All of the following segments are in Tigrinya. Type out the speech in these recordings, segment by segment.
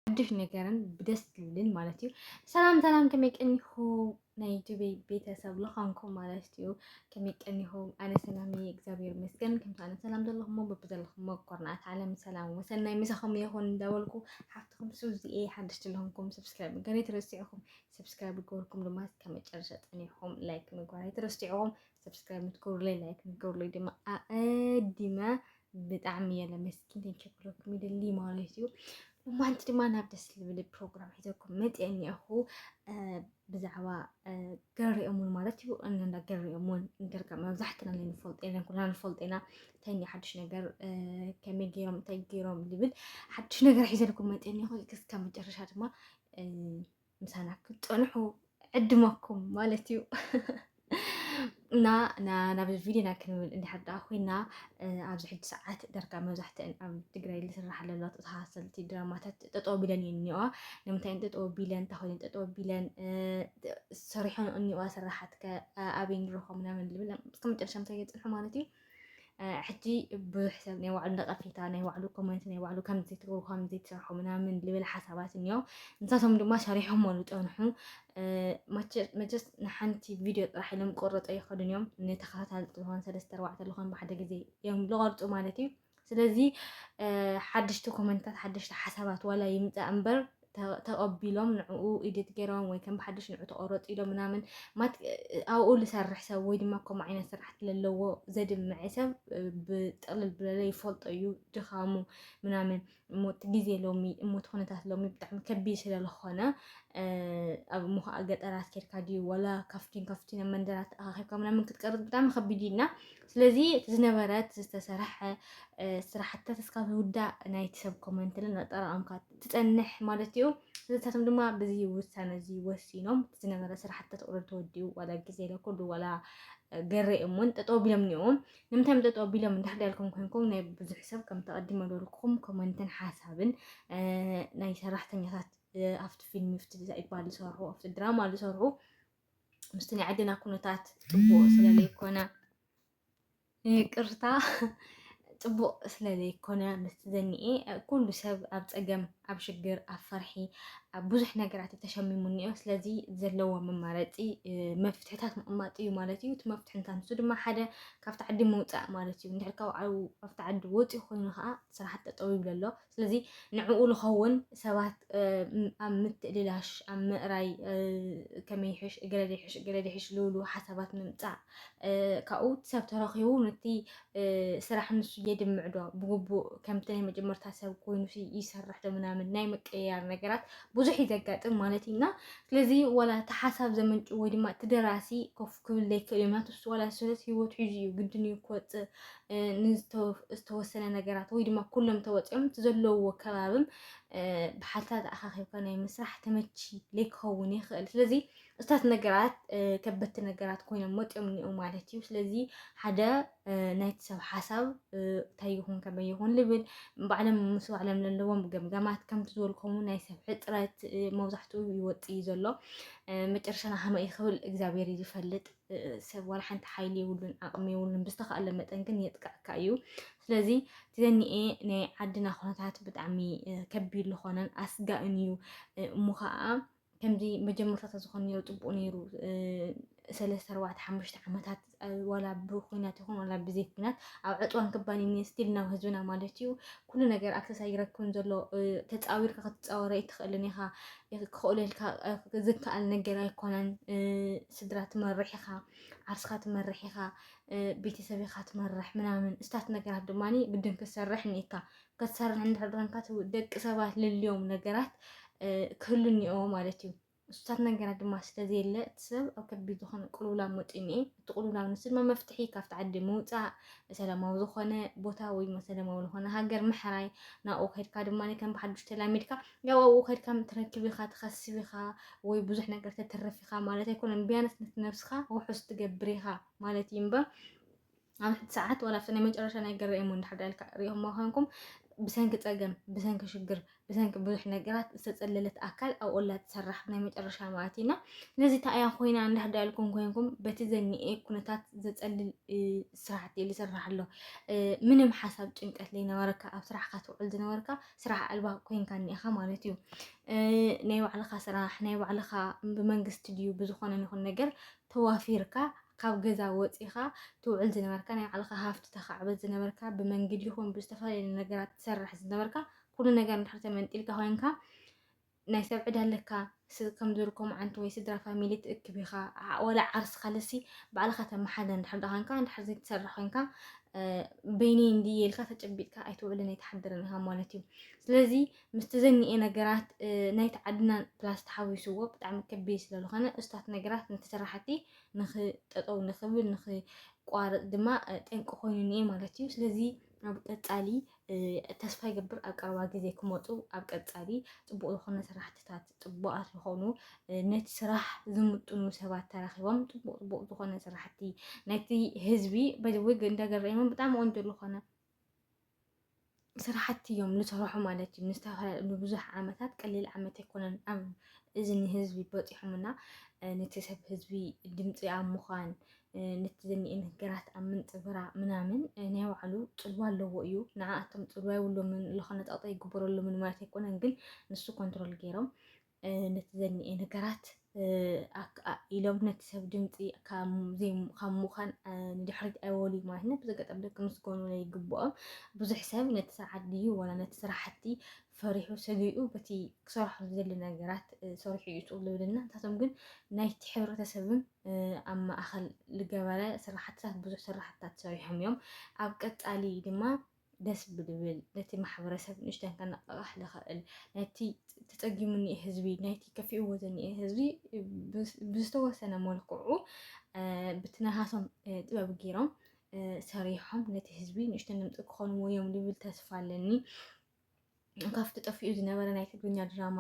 ሓድሽ ነገርን ብደስ ዝብልን ማለት እዩ ሰላም ሰላም ከመይ ቀኒኹ ናይ ዩቱብ ቤተሰብ ልዃንኩም ማለት እዩ ከመይ ቀኒኹም ኣነ ሰላም እየ እግዚኣብሔር ይመስገን ከምቲ ኣነ ሰላም ዘለኹሞ በብዘለኹሞ ኮርናት ዓለም ሰላም ወሰናይ ምሳኹም ይኹን እንዳበልኩ ሓፍትኹም ሱዚ እየ ሓድሽ ዘለኹምኩም ሰብስክራይብ ገለ ተረሲዕኹም ሰብስክራይብ ገበርኩም ድማ እስከ መጨረሻ ፀኒዕኹም ላይክ ምግባር ኣይትረስዕኹም ሰብስክራይብ ምትገብሩለይ ላይክ ምግበሩለይ ድማ ኣቐዲመ ብጣዕሚ እየ ለመስኪን ተንቸክለኩም ይደሊ ማለት እዩ እማንቲ ድማ ናብ ደስ ዝብል ፕሮግራም ሒዘኩም መፅአ እኒአኹ ብዛዕባ ገሪኦሙን ማለት እዩ እንዳ ገሪኦሙን እንገርካ መብዛሕትና ናይ ንፈልጦ የለን ኩልና ንፈልጦ ኢና እንታይ እኒ ሓድሽ ነገር ከመይ ገይሮም እንታይ ገይሮም ዝብል ሓድሽ ነገር ሒዘልኩም መፅአ እኒአኹ እስከ መጨረሻ ድማ ምሳና ክትፀንሑ ዕድመኩም ማለት እዩ እና ናብዚ ቪድዮና ክንብል እንድሕር ደኣ ኮይና ኣብዚ ሕጂ ሰዓት ደርጋ መብዛሕትአን ኣብ ትግራይ ዝስራሕ ኣለዋ ተሃሰልቲ ድራማታት ጠጠው ቢለን እየን እኒዋ ንምንታይ ጠጠው ቢለን እንታይ ጠጠው ቢለን ሰሪሖን እኒዋ ስራሓት ከ ኣበይ ንረኽቦ ምናምን ዝብል እስከ መጨረሻ ምሳይ የፅንሑ ማለት እዩ ሕጂ ብዙሕ ሰብ ናይ ባዕሉ ነቐፌታ ናይ ባዕሉ ኮመንት ናይ ባዕሉ ከምዚ ትገብሩ ከምዚ ትሰርሑ ምናምን ልብል ሓሳባት እኒኦ ንሳቶም ድማ ሰሪሖሞ ዝፀንሑ መቸስ ንሓንቲ ቪድዮ ጥራሕ ኢሎም ቆረፆ ይኸዱን እዮም ንተኸታታሊ ዝኾን ሰለስተ ኣርባዕተ ዝኾን ብሓደ ግዜ እዮም ዝቐርፁ ማለት እዩ ስለዚ ሓደሽቲ ኮመንታት ሓደሽቲ ሓሳባት ዋላ ይምፃእ እምበር ተቐቢሎም ንዕኡ ኢድት ገይሮም ወይ ከም ብሓደሽ ንዑ ተቆረፅ ኢሎም ምናምን ማት ኣብኡ ዝሰርሕ ሰብ ወይ ድማ ከምኡ ዓይነት ስራሕቲ ዘለዎ ዘድምዐ ሰብ ብጥቕልል ብለለ ይፈልጦ እዩ ድኻሙ ምናምን እሞ እቲ ግዜ ሎሚ እሞ እቲ ኩነታት ሎሚ ብጣዕሚ ከቢድ ስለዝኾነ ኣብ እሞ ከዓ ገጠራት ኬድካ ድዩ ዋላ ካፍቲን ካፍቲን ኣብ መንደራት ኣኻኺብካ ምናምን ክትቀርፅ ብጣዕሚ ከቢድ እዩ እና ስለዚ እቲ ዝነበረ እቲ ዝተሰርሐ ስራሕትታት እስካብ ዝውዳእ ናይቲ ሰብ ኮመንት ለን ኣጠራቐምካ ትፀንሕ ማለት እዩ ስለታቶም ድማ ብዚ ውሳነ እዚ ወሲኖም እቲ ዝነበረ ስራሕትታት ቁርብ ተወዲኡ ዋላ ግዜ ለኩሉ ዋላ ገሬ እሙን ጠጠው ቢሎም እኒኦም ንምንታይ እዮም ጠጠው ቢሎም እንዳሕዳልኩም ኮንኩም ናይ ብዙሕ ሰብ ከም ተቐዲመ በልኩም ኮመንትን ሓሳብን ናይ ሰራሕተኛታት ኣብቲ ፊልም ኣብቲ ይባል ዝሰርሑ ኣብቲ ድራማ ዝሰርሑ ምስቲ ናይ ዓድና ኩነታት ፅቡቕ ስለ ዘይኮነ ይቅርታ ፅቡቕ ስለ ዘይኮነ ምስቲ ዘኒኤ ኩሉ ሰብ ኣብ ፀገም ኣብ ሽግር ኣብ ፈርሒ ኣብ ብዙሕ ነገራት እዩ ተሸሚሙ እኒኦ ስለዚ ዘለዎ መማረፂ መፍትሕታት ምቕማጥ እዩ ማለት እዩ እቲ መፍትሒ እንታይ ንሱ ድማ ሓደ ካብቲ ዓዲ ምውፃእ ማለት እዩ እንድሕር ካብኡ ኣብቲ ዓዲ ወፂኡ ኮይኑ ከዓ ስራሕቲ ጠጠው ይብሎ ኣሎ ስለዚ ንዕኡ ልኸውን ሰባት ኣብ ምትእልላሽ ኣብ ምእራይ ከመይ ይሕሽ እገለ ዘይሕሽ እገለ ዘይሕሽ ልብሉ ሓሳባት ምምፃእ ካብኡ ሰብ ተረኺቡ ነቲ ስራሕ ንሱ የድምዕዶ ብግቡእ ከምቲ ናይ መጀመርታ ሰብ ኮይኑ ይሰርሕ ዶ ምናምን ናይ ምቅያር ነገራት ብዙሕ እዩ ዘጋጥም ማለት እዩና ስለዚ ዋላ እቲ ሓሳብ ዘመንጩ ወይ ድማ እቲ ደራሲ ኮፍ ክብል ዘይክእል እዩ ምክንያቱ ንሱ ዋላ ሰለት ሂወት ሒዙ እዩ ግድን እዩ ክወፅእ ንዝተወሰነ ነገራት ወይ ድማ ኩሎም ተወፂኦም እቲ ዘለውዎ ከባብም ብሓልታት ኣኻኺብካ ናይ ምስራሕ ተመቺ ዘይክኸውን ይኽእል ስለዚ እታት ነገራት ከበቲ ነገራት ኮይኖም ወፂኦም እኒኦ ማለት እዩ ስለዚ ሓደ ናይቲ ሰብ ሓሳብ እንታይ ይኹን ከመይ ይኹን ልብል ባዕሎም ምስ ባዕሎም ዘለዎም ገምገማት ከምቲ ዝበልከሙ ናይ ሰብ ሕፅረት መብዛሕትኡ ይወፅእ እዩ ዘሎ መጨረሻና ከመይ ክብል እግዚኣብሔር ይፈልጥ ሰብ ዋላ ሓንቲ ሓይሊ የብሉን ዓቕሚ የብሉን ብዝተኻእለ መጠን ግን የጥቅዐካ እዩ ስለዚ ዘኒኤ ናይ ዓድና ኩነታት ብጣዕሚ ከቢድ ዝኾነን ኣስጋእን እዩ እሞ ከዓ ከምዚ መጀመርታ ዝኾነ ነይሩ ፅቡቅ ነይሩ ሰለስተ ኣርባዕተ ሓሙሽተ ዓመታት ዋላ ብኩናት ይኹን ዋላ ብዘይ ኩናት ኣብ ዕፅዋን ክባን ስቲል ናብ ህዝብና ማለት እዩ ኩሉ ነገር ኣክሰስ ኣይረክብን ዘሎ ተፃዊርካ ክትፃወር ኣይትኽእልን ኢኻ ክኽእለልካ ዝከኣል ነገር ኣይኮነን ስድራ ትመርሕ ኢኻ ዓርስካ ትመርሕ ኢኻ ቤተሰብ ኢኻ ትመርሕ ምናምን እስታት ነገራት ድማ ግድን ክትሰርሕ እኒካ ክትሰርሕ እንድሕር ደቂ ሰባት ልልዮም ነገራት ክህሉ እኒኦ ማለት እዩ እሱታት ነገራት ድማ ስለ ዘየለ፣ እቲ ሰብ ኣብ ከቢድ ዝኾነ ቅልውላው መጺኡ እኒኤ። እቲ ቅልውላው ንሱ ድማ መፍትሒ ካብቲ ዓዲ ምውጻእ፣ ሰላማዊ ዝኾነ ቦታ ወይ ድማ ሰላማዊ ዝኾነ ሃገር ምሕራይ፣ ናብኡ ከድካ ድማ ከም ብሓዱሽ ተላሚድካ፣ ያው ኣብኡ ከድካ ትረክብ ኢኻ፣ ትኸስብ ኢኻ፣ ወይ ብዙሕ ነገር ተትርፍ ኢኻ ማለት ኣይኮነን። ቢያንስ ነቲ ነብስኻ ውሑስ ትገብር ኢኻ ማለት እዩ እምበር ኣብ ሕቲ ሰዓት ዋላ ኣብቲ ናይ መጨረሻ ናይ ገረኤሞ እንድሕር ዳ ኢልካ ሪኦሞ ኮንኩም ብሰንኪ ጸገም ብሰንኪ ሽግር ብሰንኪ ብዙሕ ነገራት ዝተጸለለት ኣካል ኣብ ኦላ ትሰራሕ ናይ መጨረሻ ማለት እዩና ስለዚ እታ እያ ኮይና እንድሕር ዳ ኢልኩም ኮንኩም በቲ ዘኒኤ ኩነታት ዘጸልል ስራሕቲ እዩ ዝስራሕ ኣሎ ምንም ሓሳብ ጭንቀት ዘይነበረካ ኣብ ስራሕካ ትውዕል ዝነበርካ ስራሕ ኣልባ ኮንካ እኒኢኻ ማለት እዩ ናይ ባዕልኻ ስራሕ ናይ ባዕልኻ ብመንግስቲ ድዩ ብዝኾነ ይኹን ነገር ተዋፊርካ ካብ ገዛ ወጺኻ ትውዕል ዝነበርካ፣ ናይ ባዕልኻ ሃፍቲ ተኻዕብት ዝነበርካ፣ ብመንግዲ ይኹን ብዝተፈላለየ ነገራት ትሰርሕ ዝነበርካ፣ ኩሉ ነገር እንድሕር ተመንጢልካ ኮይንካ ናይ ሰብ ዕዳ ኣለካ ከም ዝርኮ መዓንቲ ወይ ስድራ ፋሚሊ ትእክብ ኢኻ ወላ ዓርሲ ካልሲ ባዕልኻ ተመሓደ እንድሕር ዳ ኮንካ እንድሕር ዘይትሰርሕ ኮንካ በይኒ እንዲ ኢልካ ተጨቢጥካ ኣይትውዕልን ኣይትሓድርን ኢኻ ማለት እዩ ስለዚ ምስቲ ዘኒኤ ነገራት ናይቲ ዓድና ፕላስ ተሓዊስዎ ብጣዕሚ ከቢድ ስለዝኾነ እስታት ነገራት ንተሰራሕቲ ንኽ ጠጠው ንኽብል ንኽቋረፅ ድማ ጠንቂ ኮይኑ እኒኤ ማለት እዩ። ስለዚ ኣብ ቀፃሊ ተስፋ ይገብር ኣብ ቀረባ ግዜ ክመፁ ኣብ ቀፃሊ ፅቡቅ ዝኮነ ስራሕትታት ፅቡቃት ዝኮኑ ነቲ ስራሕ ዝምጥኑ ሰባት ተራኪቦም ፅቡቅ ፅቡቅ ዝኮነ ስራሕቲ ነቲ ህዝቢ በዚ ወይ ገንዳ ገረይሞም ብጣዕሚ ቆንጆ ዝኮነ ስራሕቲ እዮም ንሰርሖ ማለት እዩ። ንዝተፈላለዩ ንብዙሕ ዓመታት ቀሊል ዓመት ኣይኮነን ኣብ እዝኒ ህዝቢ በፂሖምና ነቲ ሰብ ህዝቢ ድምፂ ኣብ ምዃን ነቲ ዘኒኤ ነገራት ኣብ ምንፅብራ ምናምን ናይ ባዕሉ ፅልዋ ኣለዎ እዩ። ንዓኣቶም ፅልዋ የብሎምን ዝኾነ ፀቕጢ ኣይግበረሎምን ማለት ኣይኮነን ግን ንሱ ኮንትሮል ገይሮም ነቲ ዘኒኤ ነገራት ኢሎም ነቲ ሰብ ድምፂ ካብ ምዃን ንድሕሪት ኣይወልዩ ማለት ነ ብዘጋጠም ደቂ ምስጎኑ ይግብኦም ብዙሕ ሰብ ነቲ ስርዓት ድዩ ወላ ነቲ ስራሕቲ ፈሪሑ ሰጊኡ በቲ ክሰርሖ ዝደሊ ነገራት ሰሪሑ እዩ ፅኡ ዝብልና ንሳቶም ግን ናይቲ ሕብረተሰብን ኣብ ማእኸል ዝገበረ ስራሕትታት ብዙሕ ስራሕትታት ሰሪሖም እዮም ኣብ ቀፃሊ ድማ ደስ ብልብል ነቲ ማሕበረሰብ ንእሽተን ከነቓቕሕ ዝኸእል ነቲ ተፀጊሙ እኒኤ ህዝቢ ናይቲ ከፊእዎ ዝኒኤ ህዝቢ ብዝተወሰነ መልክዑ ብቲ ናሃቶም ጥበብ ገይሮም ሰሪሖም ነቲ ህዝቢ ንእሽተን ድምፂ ክኾንዎ እዮም ዝብል ተስፋ ኣለኒ። ካፍቲ ጠፊኡ ዝነበረ ናይ ትግርኛ ድራማ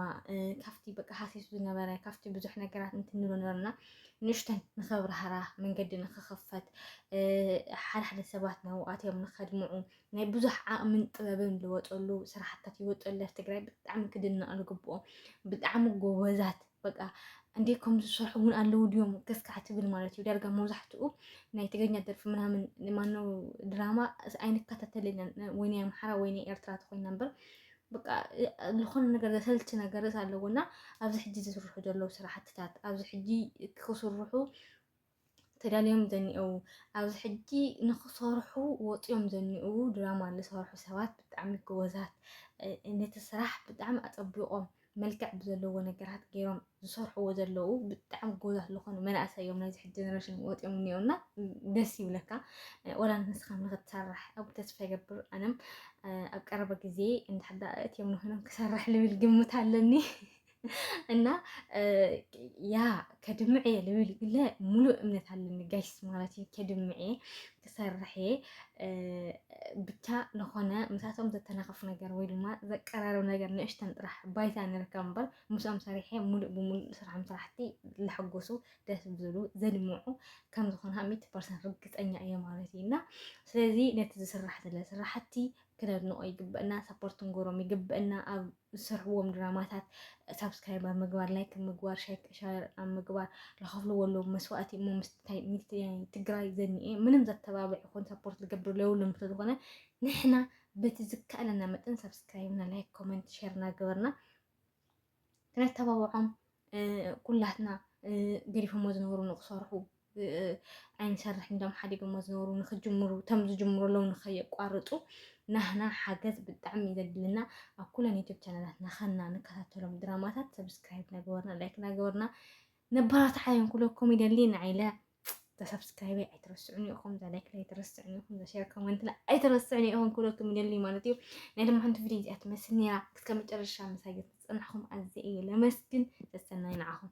ካፍቲ በቃ ሃሲሱ ዝነበረ ካፍቲ ብዙሕ ነገራት እንትንብሎ ነበርና ንሽተን ንኸብርሃራ መንገዲ ንክኸፈት ሓደ ሓደ ሰባት ናብኡ ኣትዮም ንኸድምዑ ናይ ብዙሕ ዓቕምን ጥበብን ዝወፀሉ ስራሕታት ይወፀሉ ትግራይ ብጣዕሚ ክድነቕ ዝግብኦ ብጣዕሚ ጎበዛት በቃ እንዴት ከም ዝሰርሑ እውን ኣለዉ ድዮም ገስካዕ ትብል ማለት እዩ። ዳርጋ መብዛሕትኡ ናይ ትግርኛ ደርፊ ምናምን ማነው ድራማ ኣይንከታተልን ወይ ናይ ኣምሓራ ወይ ናይ ኤርትራ ተኮይና እምበር በቃ ዝኾነ ነገር ዘሰልቺ ነገር ኣለዎ እና ኣብዚ ሕጂ ዝስርሑ ዘለዉ ስራሕትታት ኣብዚ ሕጂ ክስርሑ ተዳልዮም ዘኒኦዉ ኣብዚ ሕጂ ንክሰርሑ ወጽዮም ዘኒኦዉ ድራማ ዝሰርሑ ሰባት ብጣዕሚ ጎበዛት ነቲ ስራሕ ብጣዕሚ ኣጸቢቆም መልክዕ ብዘለዎ ነገራት ገይሮም ዝሰርሕዎ ዘለዉ ብጣዕሚ ጎበዛት ዝኾኑ መናእሰይ እዮም ናይዚ ሕጂ ጀነሬሽን ወጽዮም እኒኦና ደስ ይብለካ ወላ ንስኻ ንክትሰርሕ ኣብ ተስፋ ይገብር ኣነም ኣብ ቀረባ ግዜ እንድሕዳ እትዮም ንኾይኖም ክሰርሕ ልብል ግምት ኣለኒ እና ያ ከድምዕ እየ ልብል ግለ ሙሉእ እምነት ኣለኒ ጋይስ ማለት እዩ ከድምዕ እየ ክሰርሕ እየ ብቻ ዝኾነ ምሳቶም ዘተናኸፍ ነገር ወይ ድማ ዘቀራርብ ነገር ንእሽተን ጥራሕ ባይታ ንርከብ እምበር ምስኦም ሰሪሐ ሙሉእ ብሙሉእ ስራሕም ስራሕቲ ለሐጎሱ ደስ ብዝሉ ዘድምዑ ከም ዝኾነ ሚት ፐርሰንት ርግፀኛ እየ ማለት እዩ እና ስለዚ ነቲ ዝስራሕ ዘለ ስራሕቲ ክነድንቆ ይግበእና ሳፖርት ክንገብሮም ይግበእና ኣብ ዝሰርሕዎም ድራማታት ሳብስክራይብ ኣብ ምግባር ላይክ ኣብ ምግባር ሻር ኣብ ምግባር ዝኸፍልዎ ኣለዉ መስዋእቲ እሞ ምስታይ ትግራይ ዘኒኤ ምንም ዘተባብዕ ይኹን ሳፖርት ዝገብር ለውሎም ስለዝኾነ ንሕና በቲ ዝከኣለና መጠን ሳብስክራይብና ላይክ ኮመንት ሸር እናገበርና ክነተባብዖም ኩላትና ገዲፎሞ ዝነበሩ ንክሰርሑ ኣይንሰርሕ እንዶም ሓዲጎሞ ዝነበሩ ንክጅምሩ ተም ዝጅምሩ ኣለዉ ንከየቋርፁ ናህና ሓገዝ ብጣዕሚ ዘድልና ኣብ ኩለን ዩቱብ ቻናላት ናኸና ንከታተሎም ድራማታት ሰብስክራይብ ናገበርና ላይክ ናገበርና ነባራት ሓዮም ኩሎ ኮሜዲ ሊና ኢለ ተሰብስክራይበይ ኣይትረስዑኒ ኢኹም እዛ ላይክ ኣይትረስዑኒ ኢኹም እዛ ሼር ኮመንትና ኣይትረስዑኒ ኢኹም ክብለኩም ይደሊ ማለት እዩ ናይ ድማ ሓንቲ ቪድዮ እዚኣ ትመስል ነይራ እስከ መጨረሻ ምሳይ ዝፀናሕኹም ኣዘ እየ ለመስግን ሰሰናይ ንዓኹም